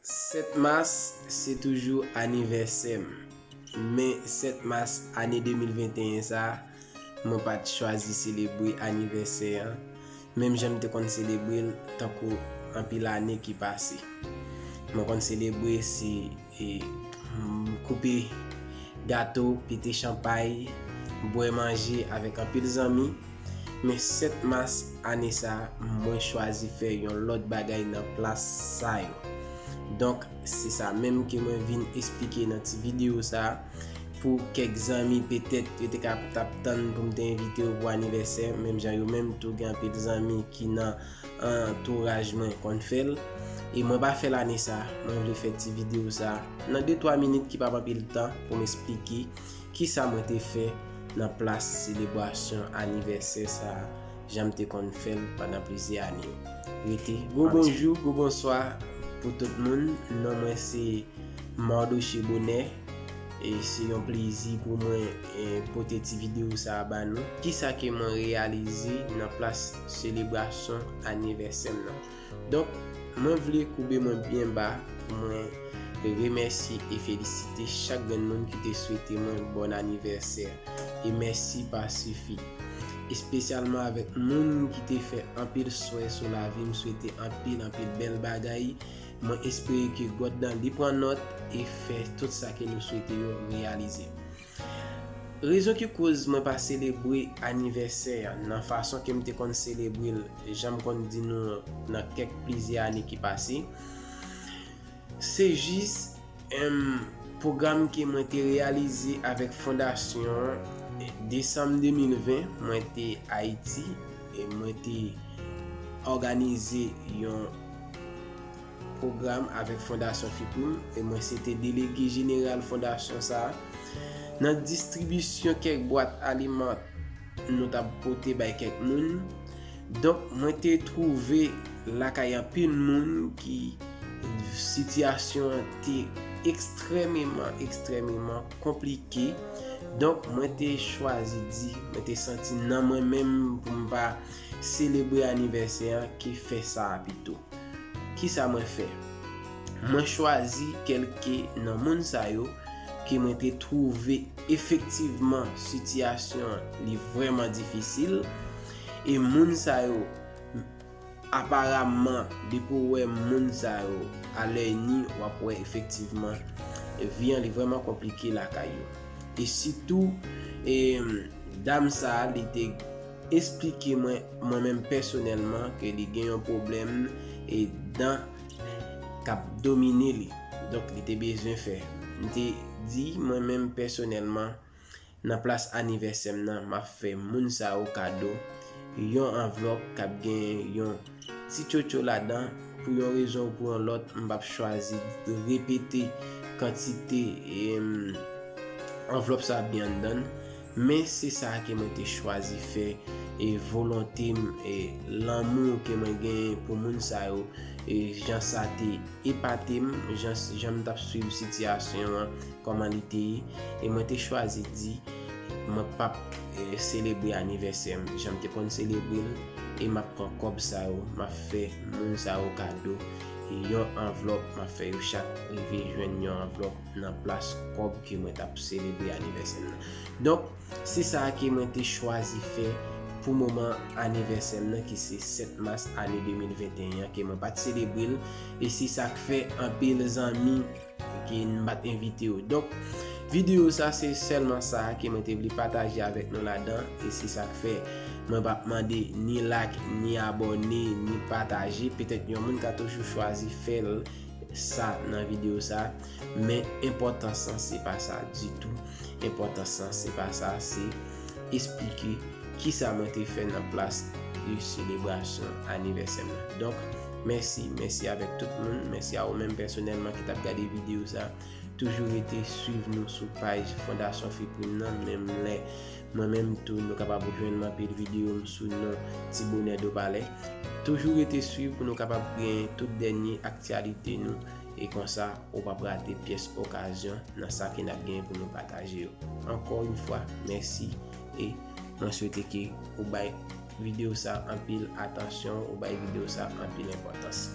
7 mas se toujou anivèsè m men 7 mas ane 2021 sa mwen pa t chwazi selebre anivèsè an menm jan m te konn selebre l tankou anpil ane ki pase. Mwen konn selebre se. E m koupe gato, pete chanpay, bwè manje avèk anpil zanmi. Men 7 mas ane sa mwen chwazi fè yon lòt bagay nan plas sa yo. Donk se sa menm ke mwen vin esplike nan ti videyo sa. Pou kèk zanmi petèt yo te ka tap tann pou m te envite yo pou anivèsè menm jan yo menm tou gen anpil zanmi ki nan. antouraj mwen konn fèl e mwen pa fèl ane sa mwen vle fè ti video sa nan de 3 minit ki pap anpil tan pou m esplike kisa mwen te fè nan plas selebrasyon anivèsè sa jan m te konn fèl pandan plizyè ane rete gwo bonjou gwo bonswa pou tout moun non mwen se Mardoche Bonheur E se yon plezi pou mwen pote ti video sa ba nou. Ki sa ke mwen reyalize nan plas selebrasyon anivèsè m nan. Donk, mwen vle koube mwen byen ba pou mwen remèsye e felisite chak grenn moun ki te swete mwen bòn anivèsè. E mèsi pa sifi. Espesyalman avèk moun ki te fè anpil swè sou lavi m, swete anpil anpil bèl bagay Mwen espere ke God nan li pran nòt e fè tout sa ke nou swete yo reyalize. Rezon ki koz mwen pa selebre anivèsè an nan fason ke m te konn selebre l jan m konn di nou nan kèk plizyè ane ki pase, se jis, Humm pwogram ke mwen te reyalize avèk fondasyon an Desanm 2020 mwen te Ayiti e mwen te òganize yon pwogram avèk fondasyon FIPRIM e mwen se te delege jeneral fondasyon sa a nan distribisyon kèk bwat alimant nou tap pote bay kèk moun donk mwen te twouve lakay anpil moun ki sitiyasyon an te ekstrèmeman ekstrèmeman konplike donk mwen te chwazi di mwen te santi nan mwen menm pou m pa selebre anivèsè an ke fè sa a pito ki sa mwen fè mwen chwazi kèlke nan moun sa yo ke mwen te twouve Efektivman sitiyasyon li vrèman difisil e moun sa yo aparamman depi w wè moun sa yo a lèy ni w ap wè efektivman vi an li vrèman konplike lakay yo. E sitou e dam sa li te esplike mwen mwen menm pèsonèlman ke li gen yon pwoblèm e dan k ap domine li. Donk li te bezwen fè. M te di mwen menm pèsonèlman, nan plas anivèsè m nan, m ap fè moun sa yo kado yon anvlòp k ap gen yon ti tchotcho ladan. Pou yon rezon ou pou yon lòt, m p ap chwazi repete kantite anvlòp sa ap gen anndan l. Men se sa ke mwen te chwazi fè e volonte m e lanmou ke mwen genyen pou moun sa yo e jan sa te epate m, jan m t ap swiv sitiyasyon an, kòman li te ye e mwen te chwazi di mwen p ap selebre anivèsè m jan m te konn selebre l e m ap pran kòb sa yo m ap fè moun sa yo kado yon anvlòp m ap fè yo chak rive jwenn yon anvlòp. nan plas kòb ke mwen tap selebre anivèsè m nan. Donk, se sa ke mwen te chwazi fè pou moman anivèsè m nan ki se 7 mas ane 2021 an ke mwen pat selebre l e se sa k fè anpil zanmi ke m pat envite yo. Donk, videyo sa se sèlman sa ke mwen te vle pataje avèk nou ladan e se sa k fè mwen pap mande ni like, ni abòne, ni pataje. Petèt yon moun ka toujou chwazi fè l. sa nan video sa men enpòtans lan se pa sa ditou enpòtans lan se pa sa se esplike ki sa mwen te fè nan plas de selebrasyon anivèsè mwen donk mèsi mèsi avèk tout moun mèsi a ou menm pèsonèlman ki tap gade video sa toujou rete swiv nou sou paj fondasyon fiprim nan menm lè Mwen menm tou nou kapab jwenn m anpil video m sou non Ti Bonè Dopalè. Toujou rete swiv pou nou kapab gen tout dènye aktyalite nou e konsa ou pap rate pyès okazyon nan sa ke nap gen pou nou pataje yo. Ankò yn fwa mèsi e mwen swete ke ou bay video sa anpil atansyon, ou bay video sa anpil enpòtans.